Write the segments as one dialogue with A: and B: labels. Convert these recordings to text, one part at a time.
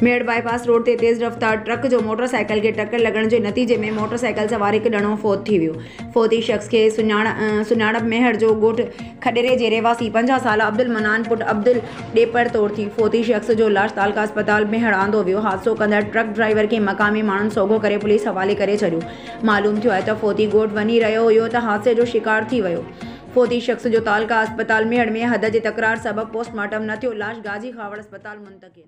A: ميڙ bypass road تي تيز رفتار ٽرڪ جو موٽر سائيڪل کي ٽڪر لڳڻ جي نتيجي ۾ موٽر سائيڪل سوار هڪ ڄڻو فوت ٿي ويو فوتي شخص کي سڃاڻپ ميهڙ جو ڳوٺ کڏري جي رهواسي پنجاهه سالا عبدالمنان پٽ عبدل ڏيپر طور ٿي فوتي شخص جو لاش تعلقه اسپتال ميهڙ آندو ويو حادثو ڪندڙ ٽرڪ ڊرائيور کي مقامي ماڻهن سوگهو ڪري پوليس حوالي ڪري ڇڏيو معلوم ٿيو آهي ته فوتي ڳوٺ وڃي رهيو هيو ته حادثي جو شڪار ٿي ويو فوتي شخص جو تعلقه اسپتال ميهڙ ۾ حد جي تڪرار سبب پوسٽ مارٽم نه ٿيو، لاش غازي خاوڙ اسپتال منتقل.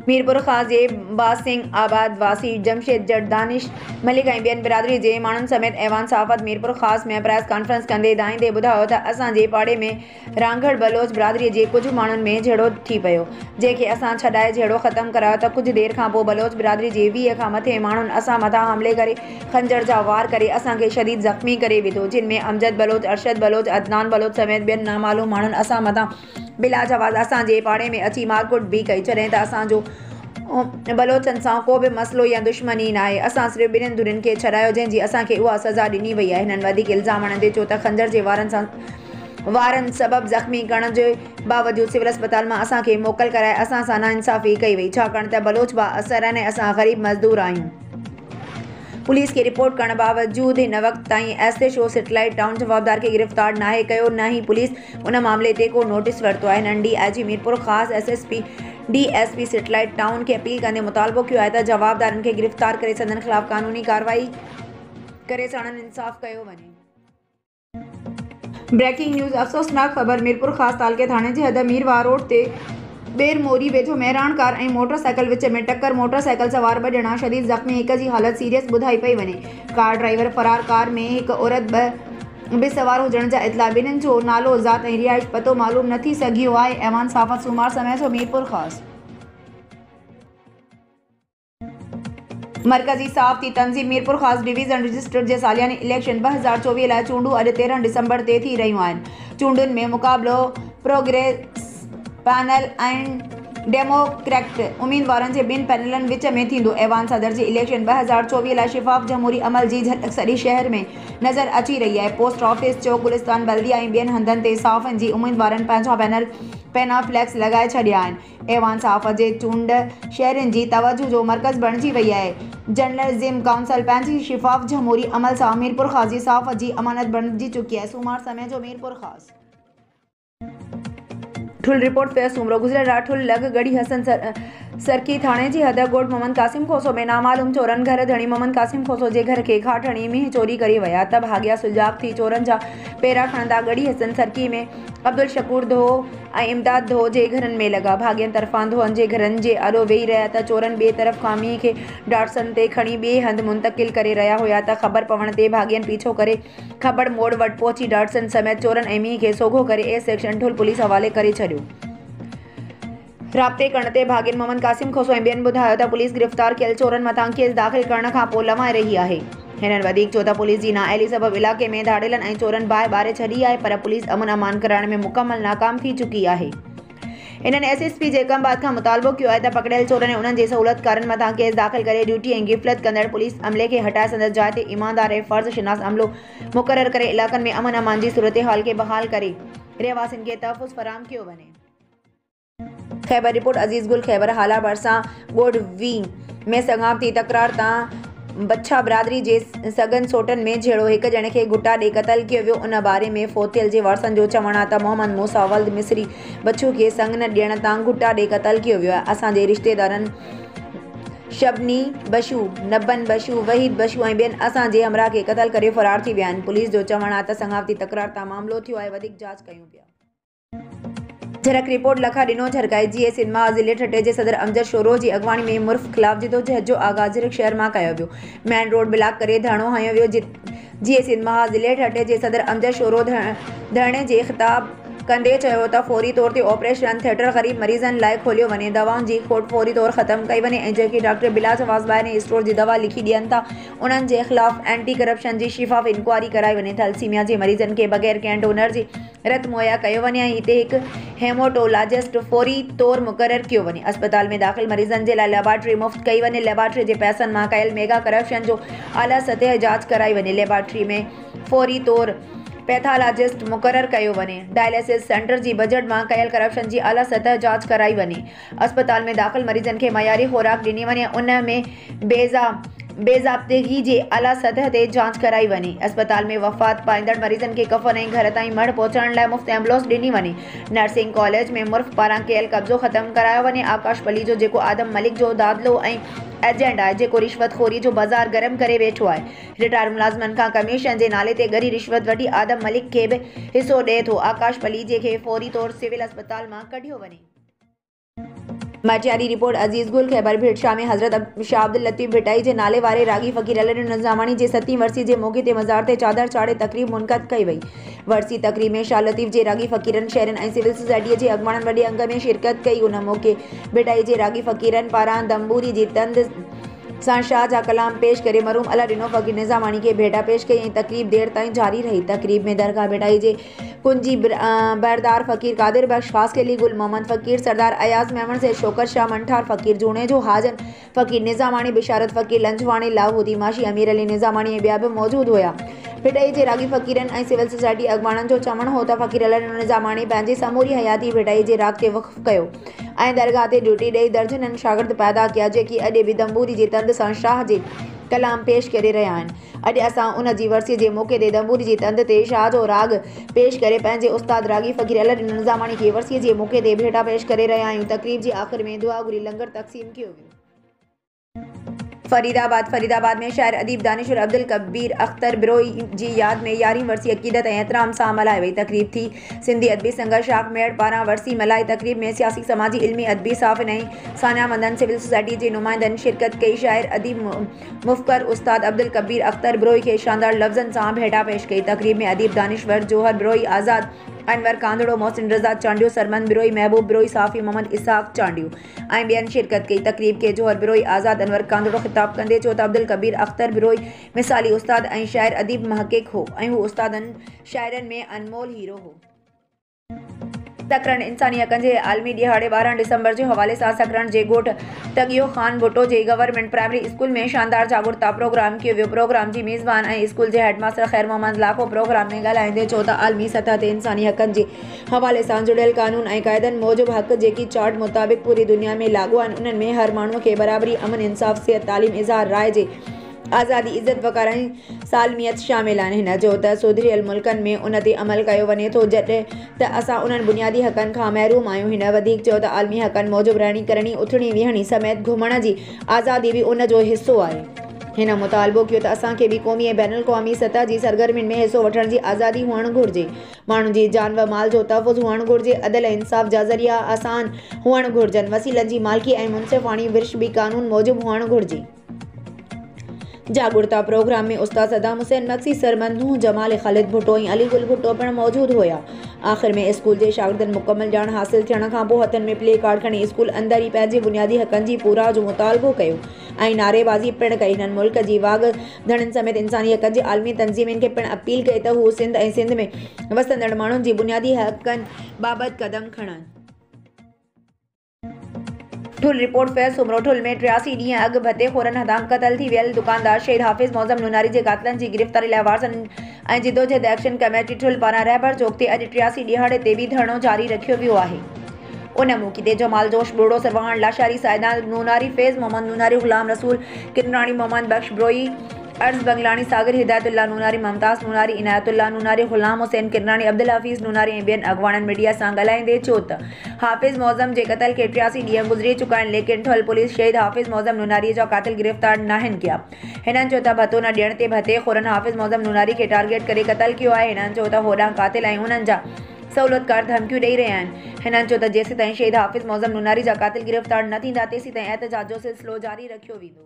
A: ميرپورخاص جي باز سنگهه آباد واسي جمشيد جٽ، دانش ملڪ ۽ ٻين برادري جي ماڻهن سميت ايوان صحافت ميرپورخاص ۾ پريس ڪانفرنس ڪندي دانهيندي ٻڌايو ته اسان جي پاڙي ۾ رانگهڙ بلوچ برادريء جي ڪجهه ماڻهن ۾ جهيڙو ٿي پيو، جنهن کي اسان ڇڏائي جهيڙو ختم ڪرايو ته ڪجهه دير کان پوء بلوچ برادريء جي ويهه کان مٿي ماڻهن اسان مٿان حملي ڪري خنجر جا وار ڪري اسان کي شديد زخمي ڪري وڌو، جن ۾ امجد بلوچ، ارشد بلوچ، عدنان بلوچ سميت ٻين نامعلوم ماڻهن اسان مٿان بلاجواز اسان جي پاڙي ۾ اچي مارڪٽ به ڪئي، جڏهن ته اسان جو بلوچن سان ڪو به مسئلو يا دشمني ناهي، اسان صرف ٻنهين ڌرين کي ڇڏايو، جنهن جي اسان کي اها سزا ڏني وئي آهي، هنن وڌيڪ الزام هڻندي چيو ته خنجر جي وارن سان وارن سبب زخمي ڪرڻ جي باوجود سول اسپتال مان اسان کي موڪل ڪرائي اسان سان ناانصافي ڪئي وئي ڇاڪاڻ ته بلوچ با اثر آهن ۽ اسان غريب مزدور آهيون. پوليس کي رپورٽ ڪرڻ باوجود هن وقت تائين S H O satellite town جوابدار کي گرفتار ناهي ڪيو نه ئي پوليس ان معاملي تي ڪو نوٽيس ورتو آهي هنن D I G Mirpurkhas, S S P, D S P satellite town کي اپيل ڪندي مطالبو ڪيو آهي ته جوابدارن کي گرفتار ڪري سندن خلاف قانوني ڪارروائي ڪري ساڻن انصاف ڪيو وڃي. بريڪنگ نيوز، افسوسناڪ خبر ميرپورخاص تعلقي ٿاڻي جي حد مير واهه روڊ تي ٻير موري ويجهو مهراڻ ڪار ۽ موٽر سائيڪل وچ ۾ ٽڪر، موٽر سائيڪل سوار ٻه ڄڻا شديد زخمي هڪ جي حالت سيريس ٻڌائي پئي وڃي، ڪار ڊرائيور فرار ڪار ۾ هڪ عورت ٻه به سوار هجڻ جا اطلاع ٻنهن جو نالو، ذات ۽ رهائش پتو معلوم نه ٿي سگهيو آهي. ايوان صحافت سومار سميع ٿو ميرپورخاص. مرڪزي صحافتي تنظيم ميرپورخاص ڊويزن رجسٽر جي سالياني اليڪشن ٻه هزار چوويهه لاء چونڊون اڄ تيرهن ڊسمبر تي ٿي رهيون آهن چونڊن ۾ مقابلو پروگريس پينل ۽ ڊيموڪريڪٽ اميدوارن جي ٻن پينلن وچ ۾ ٿيندو ايوان صدر جي اليڪشن ٻه هزار چوويهه لاء شفاف جمهوري عمل جي جهلڪ سڄي شهر ۾ نظر اچي رهي آهي پوسٽ آفيس چوڪ گلستان بلديه ۽ ٻين هنڌن تي صحافين جي اميدوارن پنهنجا بينر پينا فليڪس لڳائي ڇڏيا آهن ايوان صحافت جي چونڊ شهرين جي توجه جو مرڪز بڻجي وئي آهي. جرنلزم ڪائونسل پنهنجي شفاف جمهوري عمل سان ميرپورخاص جي صحافت جي امانت بڻجي چڪي آهي، سومار سمي جو ميرپورخاص. ٺل، رپورٽ، فيض سومرو، گذريل رات ٺل لڳ ڳڙهي حسن سرڪي ٿاڻي جي حد ڳوٺ محمد قاسم کوسو ۾ نامعلوم چورن گهر ڌڻي محمد قاسم کوسو جي گهر کي گهاٽ هڻي مينهن چوري ڪري ويا ته ڀاڳيا سجاڳ ٿي چورن جا پيرا کڻندا ڳڙهي حسن سرڪي ۾ عبدالشڪور ڌو، ۽ امداد ڌو جي گهرن ۾ لڳا ڀاڳين طرفان ڌوئن جي گهرن جي آڏو ويهي رهيا ته چورن ٻئي طرف کاميء کي ڊاٽسن تي کڻي ٻئي هنڌ منتقل ڪري رهيا هيا ته خبر پوڻ تي ڀاڳين پيڇو ڪري کبڙ موڙ وٽ پهچي ڊاٽسن سميت چورن ۽ مينهن کي سوگهو ڪري اي سيڪشن ٺل پوليس حوالي ڪري ڇڏيو. رابطي ڪرڻ تي ڀاڳين محمد قاسم کوسو ۽ ٻين ٻڌايو ته پوليس گرفتار ڪيل چورن مٿان ڪيس داخل ڪرڻ کانپوء لوائي رهي آهي. هنن وڌيڪ چيو ته پوليس جي نااهلي سبب علائقي ۾ ڌاڙيلن ۽ چورن باهه ٻاري ڇڏي آهي پر پوليس امن امان ڪرائڻ ۾ مڪمل ناڪام ٿي چڪي آهي. هنن S S P Jacobabad کان مطالبو ڪيو آهي ته پڪڙيل چورن ۽ انهن جي سهولتڪارن مٿان ڪيس داخل ڪري ڊيوٽي ۽ غفلت ڪندڙ پوليس عملي کي هٽائي سندس جاء تي ايماندار ۽ فرض شناس عملو مقرر ڪري علائقن ۾ امن امان جي صورتحال کي بحال ڪري رهواسين کي تحفظ فراهم ڪيو وڃي. خيبر، رپورٽ، عزيز گل، خيبر هالا ڀرسان ڳوٺ وين ۾ سڱاپتي تڪرار تان بڇا برادري جي سڳن سوٽن ۾ جهيڙو، هڪ ڄڻي کي گهٽا ڏئي قتل ڪيو ويو، ان باري ۾ فوتيل جي وارثن جو چوڻ آهي ته محمد موسيٰ ولد مصري بڇو کي سڱ نه ڏيڻ تان گهٽا ڏئي قتل ڪيو ويو آهي، اسان جي رشتيدارن شبني بشو، نبن بشو، وحيد بشو ۽ ٻين اسان جي همراهه کي قتل ڪري فرار ٿي ويا آهن، پوليس جو چوڻ آهي ته سڱاپتي تڪرار تان معاملو ٿيو آهي وڌيڪ جاچ ڪيون پيا. جھرڪ، رپورٽ، لکا ڏنو جھرڪائي، جي اي سنڌ مان ضلعي ٺٽي جي صدر امجد شورو جي اڳواڻي ۾ مرف خلاف جدوجهد جو آغاز جھرڪ شهر مان ڪيو ويو، مين روڊ بلاڪ ڪري ڌرڻو هنيو ويو، جي اي سنڌ مان ضلعي ٺٽي جي صدر امجد شورو ڌرڻي جي خطاب ڪندي چيو ته فوري طور تي آپريشن ٿيٽر غريب مريضن لاء کوليو وڃي، دوائن جي کوٽ فوري طور ختم ڪئي وڃي ۽ جيڪي ڊاڪٽر بلا جواز ٻاهرين اسٽور جي دوا لکي ڏين ٿا انهن جي خلاف اينٽي ڪرپشن جي شفاف انڪوائري ڪرائي وڃي، ٿئلسيميا جي مريضن کي بغير ڪنهن ڊونر جي رت مهيا ڪيو وڃي ۽ هتي هڪ هيموٽولاجسٽ فوري طور مقرر ڪيو وڃي. اسپتال ۾ داخل مريضن جي لاء ليبارٽري مفت ڪئي وڃي. ليبارٽري جي پئسن مان ڪيل ميگا ڪرپشن جو اعليٰ سطح جاچ ڪرائي وڃي. ليبارٽري ۾ فوري طور پيٿالاجسٽ مقرر ڪيو وڃي. ڊائليسز سينٽر جي بجٽ مان ڪيل ڪرپشن جي اعليٰ سطح جاچ ڪرائي وڃي. اسپتال ۾ داخل مريضن کي معياري خوراڪ ڏني وڃي ان ۾ بي ضابطگي جي اعليٰ سطح تي جاچ ڪرائي وڃي، اسپتال ۾ وفات پائيندڙ مريضن کي ڪفن ۽ گهر تائين مڙهه پهچائڻ لاء مفت ايمبولنس ڏني وڃي، نرسنگ ڪاليج ۾ مرخ پاران ڪيل قبضو ختم ڪرايو وڃي، آڪاش پليجو جيڪو آدم ملڪ جو دادلو ۽ ايجنٽ آهي جيڪو رشوت خوري جو بازار گرم ڪري ويٺو آهي، رٽائرڊ ملازمن کان ڪميشن جي نالي تي ڳري رشوت وٺي آدم ملڪ کي به حصو ڏئي ٿو، آڪاش پليجي کي فوري طور سول اسپتال مان ڪڍيو وڃي. ميٽيا جي رپورٽ عزيز گل خيبر ڀيٽشاهه ۾ حضرت شاهه عبداللطيف ڀٽائي جي نالي واري راڳي فقير علي ڏيڻ نظاماڻي جي ستين ورسي جي موقعي تي مزار تي چادر چاڙهي تقريب منعقد ڪئي وئي ورسي تقريب ۾ شاهه لطيف جي راڳي فقيرن شهرين ۽ سول سوسائٽيء جي اڳواڻن وڏي انگ ۾ شرڪت ڪئي ان موقعي ڀٽائي جي راڳي فقيرن پاران دنبوري جي تند سان شاهه جا ڪلام پيش ڪري مرحوم علي ڏنو فقير نظاماڻي کي ڀيٽا پيش ڪئي ۽ تقريب دير تائين جاري رهي تقريب ۾ درگاهه ڀٽائي جي ڪنجي، بحردار فقير، قادر بخش، خاص خيلي، گل محمد فقير، سردار اياز ميمڻ، سيد شوڪت شاهه، منٺار فقير، جوڻيجو حاجن فقير، نظاماڻي، بشارت فقير، لنجواڻي، لاهوتي، ماشي، امير علي نظاماڻي ۽ ٻيا به موجود هيا. ڀٽائي جي راڳي فقيرن ۽ سول سوسائٽي اڳواڻن جو چوڻ هو ته فقير علي نظاماڻي پنهنجي سموري حياتي ڀٽائي جي راڳ تي وقف ڪيو ۽ درگاهه تي ڊيوٽي ڏئي درجنن شاگرد پيدا ڪيا جيڪي اڄ به دنبوري جي تند سان شاهه جي ڪلام پيش ڪري رهيا آهن. اڄ اسان ان جي ورسيء جي موقعي تي دنبوري جي تند تي شاهه جو راڳ پيش ڪري پنهنجي استاد راڳي فقير علي الدين نظاماڻي کي ورسيء جي موقعي تي ڀيٽا پيش ڪري رهيا آهيون تقريب جي آخر ۾ دعا گهري لنگر تقسيم ڪيو ويو. فريد آباد، فريد آباد ۾ شاعر اديب دانشور عبدالڪبير اختر بروهي جي ياد ۾ يارهين ورسي عقيدت ۽ احترام سان ملهائي وئي. تقريب ٿي. سنڌي ادبي سنگت شاخ ميهڙ پاران ورسي ملهائي. تقريب ۾ سياسي، سماجي، علمي، ادبي صحافين ۽ ساڃاهه مندن، سول سوسائٽيء جي نمائندن شرڪت ڪئي. شاعر اديب مفڪر استاد عبدالڪبير اختر بروهي کي شاندار لفظن سان ڀيٽا پيش ڪئي. تقريب ۾ اديب دانشور جوهر بروهي، آزاد انور ڪانڌڙو، محسن رضا چانڊيو، سرمند بروهي، محبوب بروهي، صحافي محمد اسحاق چانڊيو ۽ ٻين شرڪت ڪئي. تقريب کي جوهر بروهي، آزاد انور ڪانڌڙو خطاب ڪندي چيو ته عبدالڪبير اختر بروهي مثالي استاد ۽ شاعر اديب محقق هو ۽ هو استادن شاعرن ۾ انمول هيرو هو. سکرن، انساني حقن جي عالمي ڏهاڙي ٻارهن ڊسمبر جي حوالي سان سکرن جي ڳوٺ ٽڳيو خان ڀٽو جي گورنمينٽ پرائمري اسڪول ۾ شاندار جاڳرتا پروگرام ڪيو ويو پروگرام جي ميزبان ۽ اسڪول جي head master Khair Muhammad Lakho programme ۾ ڳالهائيندي چيو ته عالمي سطح تي انساني حقن جي حوالي سان جڙيل قانون ۽ قاعدن موجب حق جيڪي چارٽ مطابق پوري دنيا ۾ لاڳو آهن انهن ۾ هر ماڻهو کي برابري امن انصاف صحت تعليم اظهار راء جي آزادي، عزت وقار ۽ سالميت شامل آهن. هن چيو ته سڌريل ملڪن ۾ ان تي عمل ڪيو وڃي ٿو جڏهن ته اسان انهن بنيادي حقن کان محروم آهيون. هن وڌيڪ چيو ته عالمي حقن موجب رهڻي ڪرڻي، اٿڻي ويهڻي سميت گهمڻ جي آزادي به ان جو حصو آهي. هن مطالبو ڪيو ته اسان کي به قومي ۽ بين الاقوامي سطح جي سرگرمين ۾ حصو وٺڻ جي آزادي هئڻ گهرجي. ماڻهن جي جان و مال جو تحفظ هئڻ گهرجي. عدل ۽ انصاف جا ذريعا آسان هئڻ گهرجن. وسيلن جي مالڪي ۽ منصفاڻي ورڇ به قانون موجب هئڻ گهرجي. جاڳرتا پروگرام ۾ استاد صدام حسين مگسي، سر منوه جمال، خالد ڀٽو ۽ علي گل ڀٽو پڻ موجود هيا. آخر ۾ اسڪول جي شاگردن مڪمل ڄاڻ حاصل ٿيڻ کان پوء هٿن ۾ پلي ڪارڊ کڻي اسڪول اندر ئي پنهنجي بنيادي حقن جي پورائو جو مطالبو ڪيو ۽ نعريبازي پڻ ڪئي. هنن ملڪ جي واڳ ڌڻين سميت انساني حقن جي عالمي تنظيمين کي پڻ اپيل ڪئي ته هو سنڌ ۽ سنڌ ۾ وسندڙ ماڻهن جي بنيادي حقن بابت قدم کڻن. ٺل، رپورٽ، فيض سومرو، ٺل ۾ ٽياسي ڏينهن اڳ ڀتي خورن هٿان قتل ٿي ويل دڪاندار شهيد حافظ معظم نوناري جي قاتلن جي گرفتاري لاء وارثن ۽ جدوجهد ايڪشن ڪميٽي ٺل پاران رهبر چوڪ تي اڄ ٽياسي ڏيهاڙي تي به ڌرڻو جاري رکيو ويو آهي. ان موقعي تي جمال جوش ٻوڙو، سرواهڻ لاشاري، سائدان نوناري، فيض محمد نوناري، غلام رسول ڪنراڻي، محمد بخش بروهي، عرض بنگلاڻي، ساگر هدايت الله نوناري، ممتاز نوناري، عنايت الله نوناري، غلام حسين ڪنراڻي، عبدالحفيظ نوناري ۽ ٻين اڳواڻن ميڊيا سان ڳالهائيندي چيو ته حافظ معظم جي قتل کي ٽياسي ڏينهن گذري چڪا آهن ليڪن ٺل پوليس شهيد حافظ معظم نوناري جا قاتل گرفتار ناهن ڪيا. هنن چيو ته ڀتو نه ڏيڻ تي ڀتي خورن حافظ معظم نوناري کي ٽارگيٽ ڪري قتل ڪيو آهي. هنن چيو ته هوڏانهن قاتل ۽ انهن جا سهولتڪار ڌمڪيون ڏئي رهيا آهن. هنن چيو ته جيسيتائين شهيد حافظ معظم نوناري جا قاتل گرفتار نه ٿيندا تيسيتائين احتجاج جو سلسلو جاري رکيو ويندو.